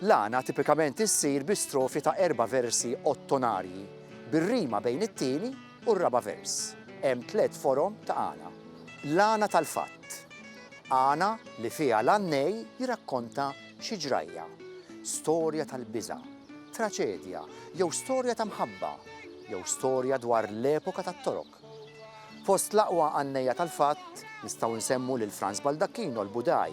L-għana tipikament issir bi strofi ta' erba' versi ottonarji, bir-rima bejn it-tieni u r-raba' vers. Hemm tliet forom ta' għana. L-għana tal-fatt, għana li fiha l-għannej jirrakkonta xi ġrajja, storja tal-biża', traċedja jew storja ta' mħabba, jew storja dwar l-epoka tat-Torok. Fost l-aqwa għannejja tal-fatt nistgħu nsemmu lil Franz Baldacchino l-Budaj,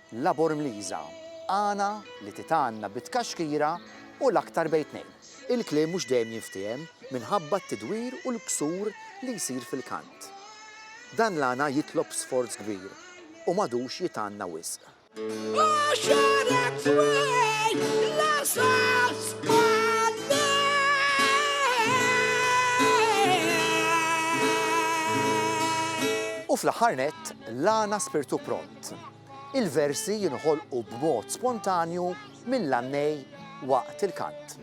Labor Mliza, Għana li titgħanna bi tkaxkira u l-aktar bejn tnejn. Il-kliem mhux dejjem jinftiehem minħabba t-tidwir u l-ksur li jsir fil-kant. Dan l-għana jitlob sforz kbir u m'għadux jitgħanna wisq. U fl-aħħar nett, l-għana Spirtu Pro. Fatt, il-versi jinħolqu b'mod spontanju mill-għannej waqt il-kant.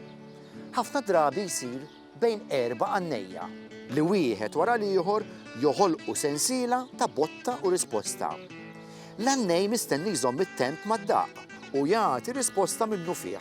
Ħafna drabi jsir bejn erba' għannejja, li wieħed wara l-ieħor joħolqu sensiela ta' botta u risposta. L-għannej mistenni jżomm it-temp mad-daqq u jagħti risposta minnufih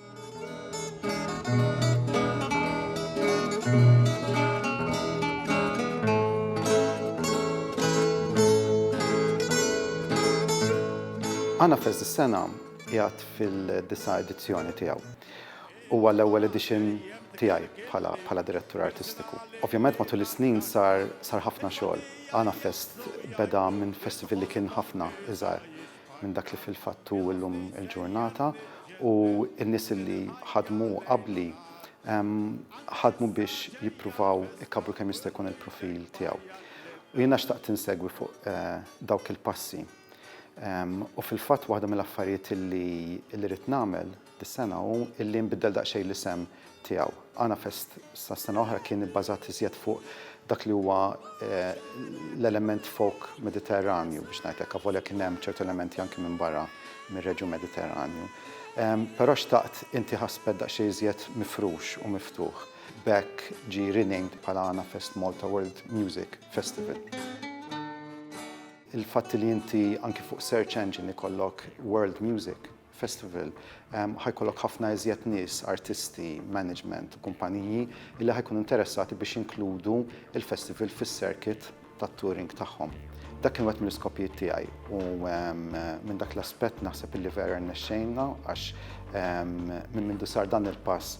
Għanafest dis-sena qiegħed fil-disa' edizzjoni tiegħu. Huwa l-ewwel edition tiegħi bħala direttur artistiku. Ovvjament matul is-snin sar ħafna xogħol. Għanafest beda minn festival li kien ħafna iżgħar minn dak li fil-fatt hu llum il-ġurnata u n-nies li ħadmu qabli ħadmu biex jippruvaw ikabbru kemm jista' jkun il-profil tiegħu. U jiena xtaqt insegwi fuq dawk il-passi. U fil-fatt waħda mill-affarijiet li rrid nagħmel Dis-sena hu li nbiddel daqsxejn l-isem tiegħu. Għanafest sas-sena oħra kien ibbażat iżjed fuq dak li huwa l-element folk Mediterranju biex ngħid hekk, avolja kien hemm ċertu elementi anki minn barra mir-reġjun Mediterranju. Però xtaqt intieh aspett daqsxejn iżjed mifrux u miftuħ. B'hekk ġie renamed bħala Għanafest Malta World Music Festival. Il-fatt li inti anki fuq search engine ikollok world music, Festival, ħa jkollok ħafna iżjed nies, artisti, management u kumpaniji li ħa jkunu interessati biex jinkludu l-festival fis-circuit tat-touring tagħhom. Dak kien wieħed mill-iskopijiet tiegħi u minn dak l-aspett naħseb li vera rnexxejna għax minn mindu sar dan il-pass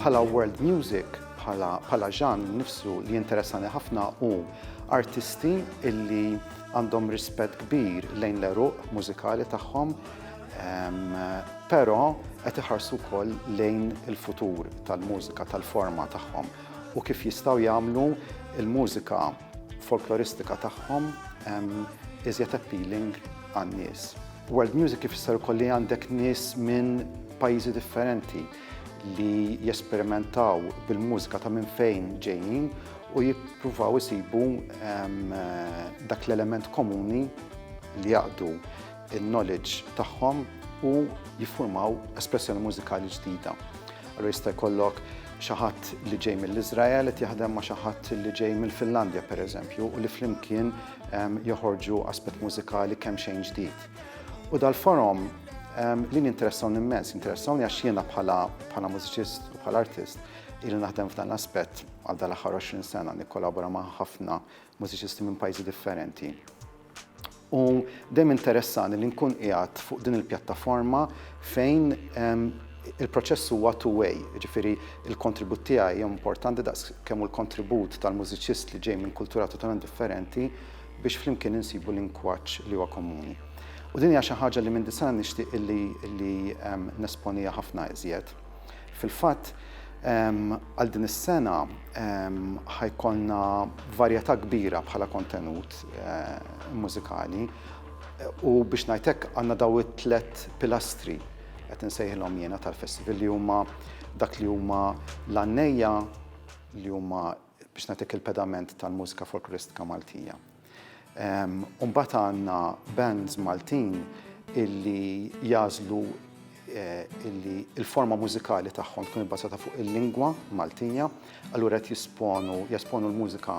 Bħala world music, bħala ġan nifsu li jinteressani ħafna u artisti illi għandhom rispett kbir lejn l-eruq mużikali tagħhom, però qed iħarsu wkoll lejn il-futur tal-mużika tal-forma tagħhom u kif jistgħu jagħmlu il-mużika folkloristika tagħhom iżjed appealing għan-nies. World music ifisser ukoll li għandek nies minn pajjiżi differenti li jesperimentaw bil-mużika ta' minn fejn ġejjin u jippruvaw isibu dak l-element komuni li jaqdu il-knowledge tagħhom u jiffurmaw espressjoni mużikali ġdida. Allura jista' jkollok xi ħadd li ġej mill-Iżrael qed jaħdem ma' xi ħadd li ġej mill-Finlandja pereżempju u li flimkien ehm, joħorġu aspett mużikali kemm xejn ġdid. U dal-forum ehm, li ninteressawni immens, interessawni għax jiena bħala bħala mużiċist u bħala artist il naħdem f'dan l-aspett għal dal-aħħar 20 sena nikkolabora ma' ħafna mużiċisti minn pajjiżi differenti. U dejjem interessani li nkun qiegħed fuq din il-pjattaforma fejn il-proċess huwa two-way, ġifiri il-kontribut tiegħi hija importanti daqs kemm l-kontribut tal-mużiċist li ġej minn kultura totalment differenti biex flimkien insibu lingwaġġ li huwa komuni. U din hija xi ħaġa li minn disana nixtieq illi nesponiha ħafna iżjed. Fil-fatt, għal din is-sena ħa jkollna varjetà kbira bħala kontenut mużikali u biex ngħid hekk għandna dawn it-tliet pilastri qed insejħilhom jiena tal-festival li huma dak li huma l-għannejja li huma biex nagħtik il-pedament tal-mużika folkloristika Maltija. U mbagħad għandna bands Maltin illi jażlu eh, illi il-forma mużikali tagħhom tkun ibbażata fuq il-lingwa Maltija, allura qed jisponu jesponu l-mużika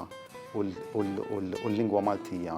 u l-lingwa Maltija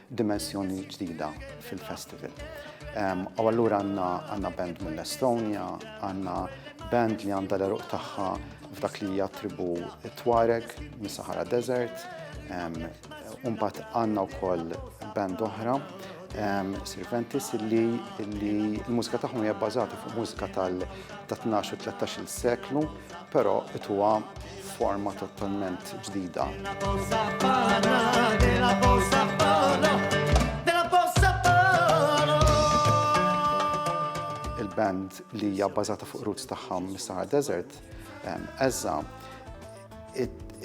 dimensjoni ġdida fil-festival. U allura għandna għandna band mill-Estonja, għandna band li għandha l-eruq tagħha f'dak li hija tribu Tuareg mis-Sahara Desert, Umbat għanna u koll band oħra, Sirventis, li l-mużika tagħhom hija bbażata fuq mużika tal-12 u 13 seklu. Però qed huwa forma totalment ġdida. Il-band li hija bbażata fuq roots tagħha mis-Sahara Desert, eżża,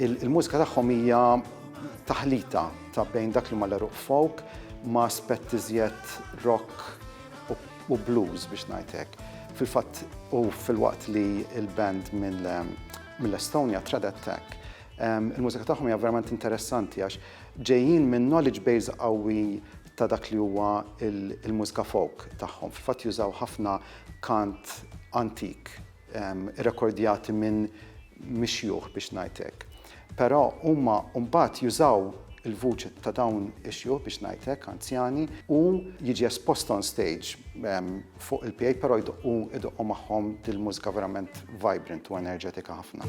il-mużika tagħhom hija taħlita ta' bejn dak li ma l-eruq folk ma' aspett iżjed rock u blues biex ngħid hekk. Fil-fatt u filwaqt li l-band mill-Estonja Trad Attack il-mużika tagħhom hija verament interessanti għax ġejjin minn knowledge base qawwi ta' dak li huwa il-mużika folk tagħhom. Fil-fatt jużaw ħafna kant antik irrekordjati minn mix-xjuħ biex ngħid hekk. Però huma mbagħad jużaw il-vuċi ta' dawn ix-xjuħ biex ngħid hekk, anzjani, u jiġi espost on stage fuq il-PA però jdoqqu jdoqqu magħhom dil-mużika verament vibrant u enerġetika ħafna.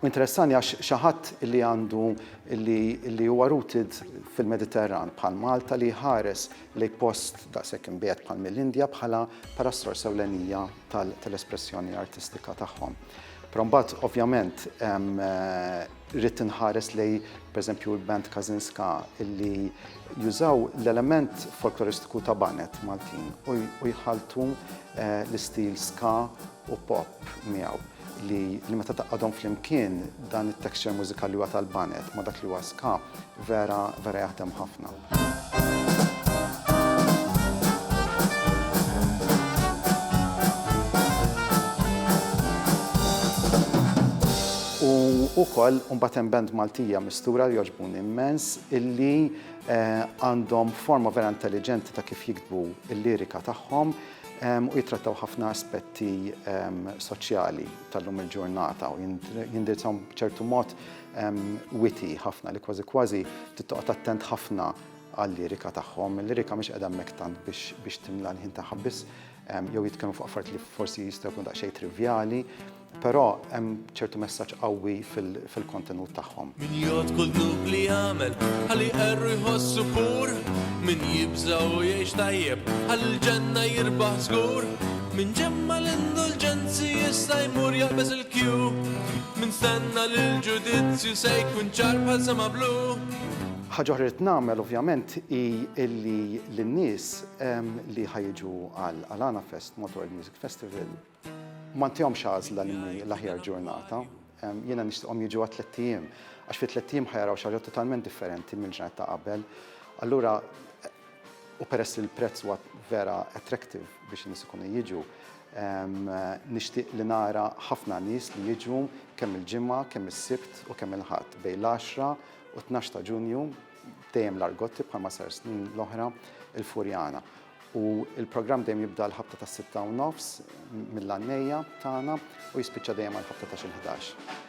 U interessani għax xi ħadd li għandu li huwa rooted fil-Mediterran bħal Malta li jħares lejn post daqshekk imbiegħed bħal mill-Indja bħala bħala s-sors ewlenija tal-espressjoni artistika tagħhom. Però mbagħad ovvjament rrid inħares lejn pereżempju l-band Kazinska li jużaw l-element folkloristiku ta' baned Maltin u jħalltu l-istil ska u pop miegħu li li meta taqgħadhom flimkien dan it-texture mużikali huwa tal-banet ma' dak li huwa ska vera vera jaħdem ħafna. U ukoll mbagħad hemm band Maltija mistura li jogħġbuni immens illi eh, għandhom forma vera intelliġenti ta' kif jiktbu l-lirika tagħhom u jittrattaw ħafna aspetti soċjali tal-lum il-ġurnata u jindirizzaw b'ċertu mod witi ħafna li kważi kważi tittoqgħod attent ħafna għal-lirika tagħhom. Il-lirika mhix qiegħda hemmhekk tant biex timla l-ħin tagħha biss jew jitkellmu fuq affarijiet li forsi jistgħu jkunu daqsxejn trivjali. Però hemm ċertu messaġġ qawwi fil-kontenut tagħhom. Min jgħod kull dnub li jagħmel, ħalli qerru jħossu pur, min jibża u jgħix tajjeb, ħalli l-ġenna jirbaħ żgur, min ġemma l-indulġenzi jista' jmur jaqbeż il-kju, min stenna l-ġudizzju se jkun ċar bħal sema blu. Ħaġa oħra li nagħmel ovvjament hi illi lin-nies ehm, li ħajġu għal Alana Fest Motor Music Festival Ma ntihomx għażla li mhi l-aħjar ġurnata. Jiena nixtieqhom jiġu għat-tlett ijiem, għax fit-tlett ijiem ħa jaraw xi ħaġa totalment differenti mill-ġranet ta' qabel. Allura, u peress li l-prezz huwa vera attractive biex in-nies ikunu jiġu, nixtieq li nara ħafna nies li jiġu kemm il-Ġimgħa, kemm is-Sibt u kemm il-Ħadd, bejn l-għaxra u t-tnax ta' Ġunju, dejjem l-Argotti bħalma sar snin l-oħra, il-Furjana. U l-programm dejjem jibda l-ħabta tas-sitta u nofs mill-għannejja tagħna u jispiċċa dejjem għall-ħabta ta' xil-ħdax.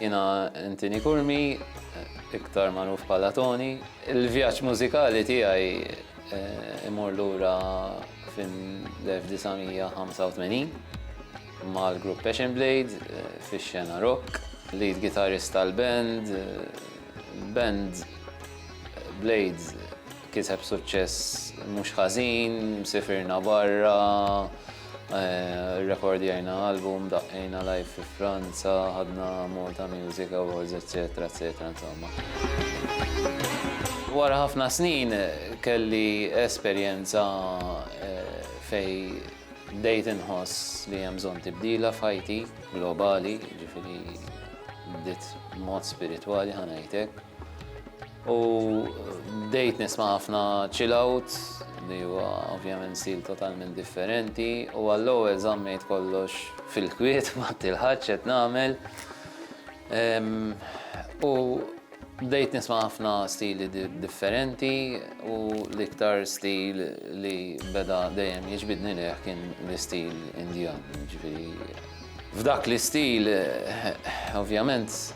Jiena Anthony Curmi, iktar magħruf bħala Toni. Il-vjaġġ mużikali tiegħi imur lura fil-1985 mal-grupp Passion Blade fix-xena rock, lead guitarist tal-band, band Blades. Kiseb suċċess mhux ħażin, sifirna barra, rrekordjajna album, daqqejna live fi Franza, ħadna Malta Music Awards, eċċetera, eċċetera, insomma. Wara ħafna snin kelli esperjenza eh, fej bdejt inħoss li hemm bżonn tibdila f'ħajti globali, ġifieri bdiet mod spiritwali ħanajtek. U bdejt nisma' ħafna chill out li huwa ovvjament stil totalment differenti u għall-ewwel żammejt kollox fil-kwiet ma tilħaġ qed nagħmel. U bdejt nisma' ħafna stili differenti u l-iktar stil li beda dejjem jiġbidni lejh kien l-istil Indjan. F'dak l-istil ovvjament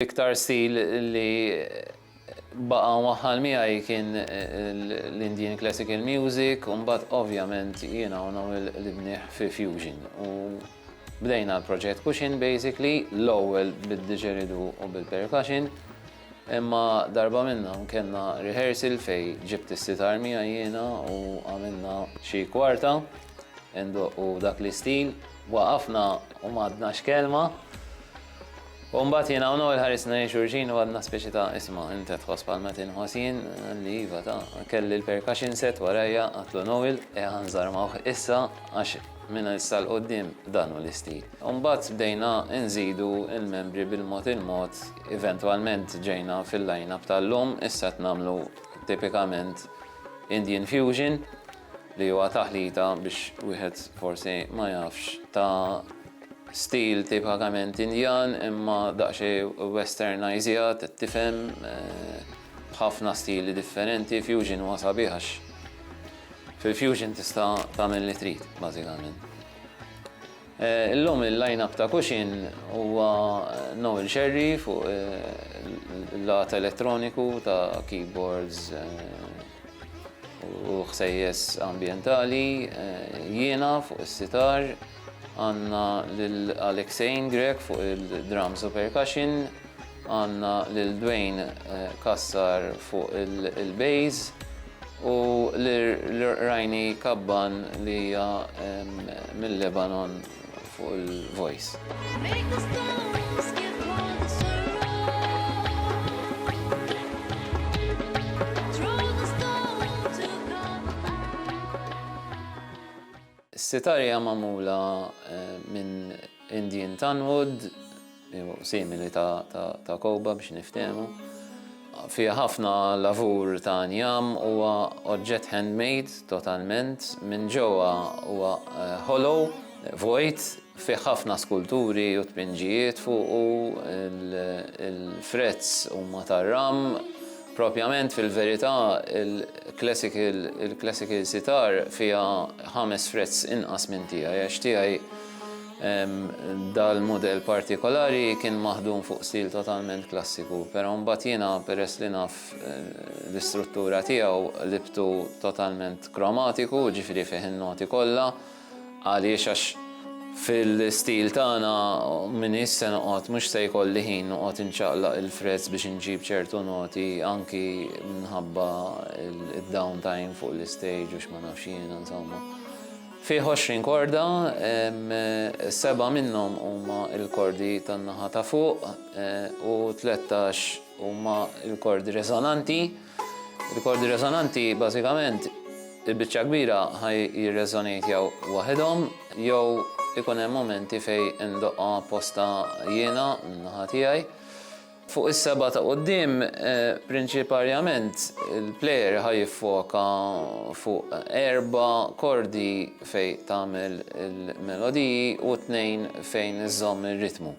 L-iktar stil li baqa waħħal miegħi kien l-Indian Classical Music, u mbagħad ovvjament jiena u nagħmel l-ibniħ fi Fusion. U bdejna l-proġett Cushion basically, l-ewwel bid-didgeridoo u bil-percussion, Imma darba minnhom kellna rehearsal fejn ġibt is-sitar miegħi jiena u għamilna xi kwarta indoqqu dak l-istil. Waqafna u m'għadna x'kelma. U mbagħad jiena u Noel ħarisna lejn xulxin u għadna speċi ta' isma' int qed tħoss bħalma qed inħoss jien? Qalli iva ta'. Kelli l-percussion set warajja, għadtlu Noel, eħa nżarmawh issa għax Minn issa 'l quddiem dan hu l-istil. Imbagħad bdejna nżidu l-membri bil-mod il-mod, eventwalment ġejna fil-line-up tal-lum, issa qed nagħmlu tipikament Indian Fusion li huwa taħlita biex wieħed forsi ma jafx ta' stil tipikament Indjan imma daqsxejn westernajżjat, qed tifhem? b'ħafna stili differenti, fusion huwa sabiħ għax fil-fusion tista' tagħmel li trid bażikament. Illum il-line-up ta' Kuxin huwa Noel Scerri fuq il-lat elettroniku ta' keyboards u ħsejjes ambjentali, jiena fuq is-sitar, għandna lil Alexein Grech fuq il-drums u percussion, Għandna lil Dwayne Cassar fuq il-bass u lil Raini Kabban li hija mil-Lebanon fuq il-voice. Is-sitar hija magħmula minn Indian tanwood, jew simili ta' kowba biex niftehmu. Fiha ħafna lavur ta' njam huwa oġġett handmade totalment. Minn ġewwa huwa hollow, vojt, Fih ħafna skulturi u tpinġijiet fuqu, il-frets huma tar-ram. Propjament, fil-verità, il-classical sitar fiha ħames frets inqas minn tiegħi għax tiegħi dal-mudell partikolari kien maħdum fuq stil totalment klassiku. Però mbagħad jiena peress li naf l-istruttura tiegħu qlibtu totalment kromatiku, jiġifieri fih in-noti kollha. Għaliex għax fil-istil tagħna m'iniex se noqgħod, mhux se jkolli ħin noqgħod inċaqlaq il-frezz biex inġib ċertu noti anki minħabba d-down time fuq l-istage u x'ma nafx jiena insomma. Fih 20 korda, seba' minnhom huma l-kordi tan-naħa ta' fuq u tlettax huma l-kordi reżonanti. Rikordi resonanti bażikament il-biċċa kbira ħaj jirreżonejtjaw waħedhom jew ikun hemm momenti fej indoqqa posta jiena minnaħa tiegħi. Fuq is-seba ta' qudiem eh, prinċiparjament il-plejer ħaj jiffoka fuq erba kordi fej tagħmel il-melodiji u tnejn fejn iżomm ir-ritmu.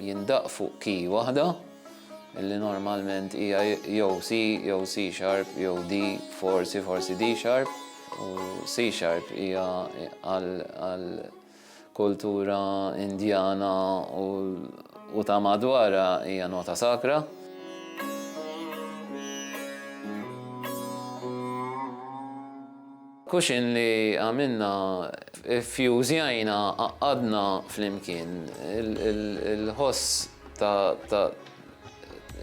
Jindaqq fuq key waħda, li normalment hija jew C jew C sharp jew D, forsi forsi D sharp, u C sharp hija għal kultura Indjana u ta' madwarha hija nota sakra. Kuxin li għamilna, iffjużjajna, għaqqadna flimkien il-ħoss ta'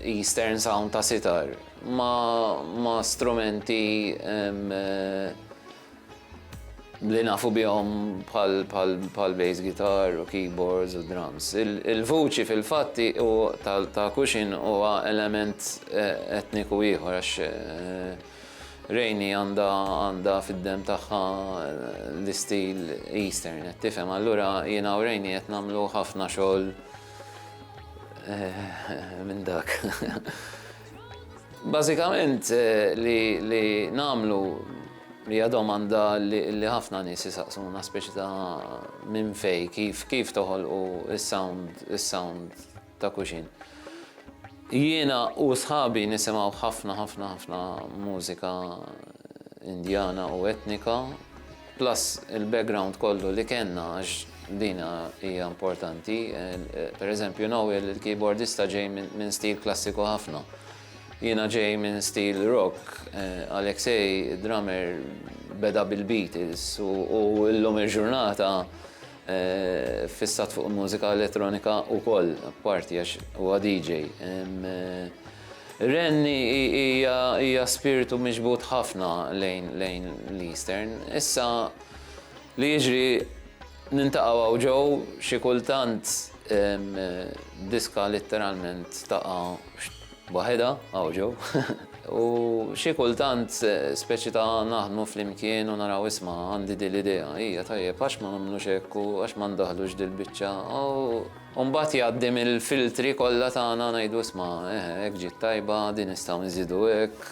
Eastern sound ta' sitar ma' strumenti li nafu bihom bħal bass guitar u keyboards u drums. Il-vuċi fil-fatt ta' Kuxin huwa element etniku ieħor għax Rainey għandha għandha fid-demm tagħha l-istil Eastern, qed tifhem. Allura jiena u Rainey qed nagħmlu ħafna xogħol minn dak. Bażikament li li nagħmlu hija domanda li ħafna nies isaqsuna speċi ta' minn fejn kif kif toħolqu s-sound is-sound ta' kuxin. Jiena u sħabi nisimgħu ħafna ħafna ħafna mużika Indjana u etnika, plus il-background kollu li kellna għax din hija importanti. Per eżempju, naw il-keyboardista ġej minn stil klassiku ħafna. Jiena ġej minn stil rock, eh, Alexei, drummer, beda bil-Beatles u l-lum il-ġurnata Ffissat fuq il-mużika elettronika wkoll apparti għax huwa DJ. Renni hija spirtu miġbud ħafna lejn l-Eastern. Issa li jiġri nintaqgħu hawn ġo xi kultant diska litteralment taqa' Waħedha, hawn ġew. U xi kultant speċi ta' naħdmu flimkien u naraw isma' għandi din l-idea, hija tajjeb għax ma nagħmlux hekk u għax ma ndaħħlux dil-biċċa u mbagħad jgħaddi mill-filtri kollha tagħna ngħidu isma' eħe hekk ġiet tajba, din nistgħu nżidu hekk.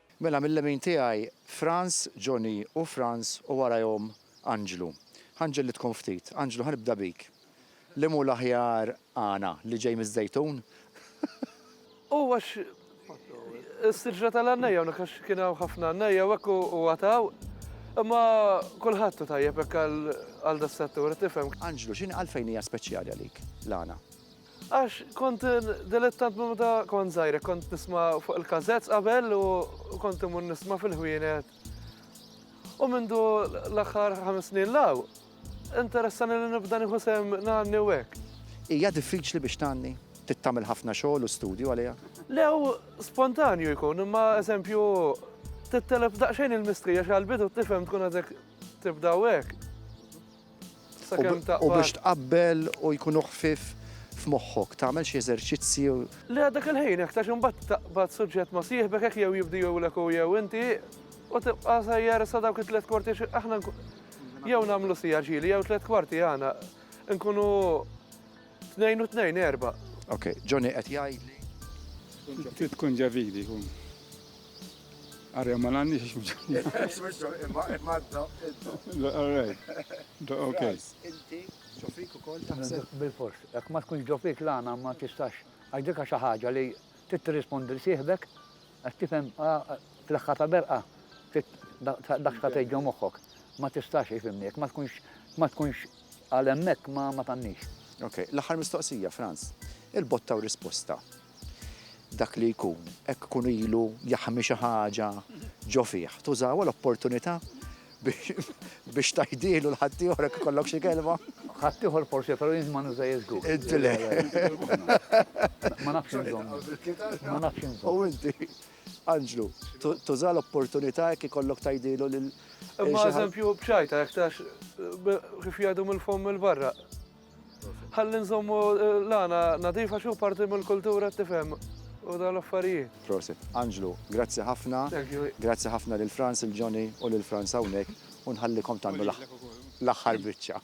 Mela mil-lemin tiegħi Frans, Johnny u Frans u warajhom Anġlu. Ħa nġellidkom ftit. Anġlu ħa nibda bik. Liem hu l-aħjar għana, li ġej miż-Żejtun? U għax is-siġra tal-għannejja hawnhekk għax kien hawn ħafna għannejja u hekk u għataw. Imma kulħadd hu tajjeb hekk għal das-settur, tifhem. Anġlu, x'inhi għalfejn hija speċjali għalik l-għana? Għax kont dilettant minn meta kont żgħir, kont nisma' fuq il-każett qabel u kont imur nisma' fil-ħwienet. U mindu l-aħħar ħames snin law, interessani li nibda nieħu sehem ngħanni u hekk. Hija diffiċli biex tgħanni? Trid tagħmel ħafna xogħol u studju għaliha? Le hu spontanju jkun, imma eżempju tittelef daqsxejn il-mistrieħ għall-bidu tifhem tkun għadek tibda u hekk. U biex tqabbel u jkunu ħfif f'moħħok, tagħmel xi eżerċizzju. Le għadek il-ħin, jekk tax imbagħad taqbad suġġett ma' sieħbek hekk jew jibdihulek u jew inti u tibqa' sejjer sa dawk it-tliet kwarti aħna jew nagħmlu sija ġieli jew tliet kwarti għana nkunu tnejn u tnejn erba'. Ok, Johnny qed jgħid li. Trid tkun ġavili kun. Arja ma għandix għax mġanna. Imma imma d-doq. All right. Doq ok. Inti ġofik u kol taħseb. Bil-fors. Jek ma tkunx ġofik l-għana ma tistax. Għax dika xaħġa li trid tirrispondi li sieħbek għax tifhem fl-aħħar ta' berqa dak ta' tgħid ġo moħħok. Ma tistax ifhimni jekk ma tkunx ma tkunx għal hemmhekk ma tgħandix. Ok, l-aħħar mistoqsija, Franz. Il-botta u risposta. Dak li jkun, hekk ikun ilu jaħmi xi ħaġa ġo fih, tużawha l-opportunità biex tgħidhielu l ħaddieħor jekk ikollok xi kelma? Ħaddieħor forsi però jien ma nużajiex żgur. Inti le. Ma nafx inżomm. Ma nafx inżomm. U inti, Anġlu, tuża l-opportunità jekk ikollok tgħidhielu lil. Imma eżempju b'xajta jekk tax kif jgħidu mill-fomm il-barra. Ħalli nżommu l-għana nadifa xi parti mill-kultura tifhem u dan l-affarijiet. Prosit. Anġlu, grazzi ħafna. Grazzi ħafna lil Frans, il Johnny u lil Frans hawnhekk u nħallikom tagħmlu l-aħħar biċċa.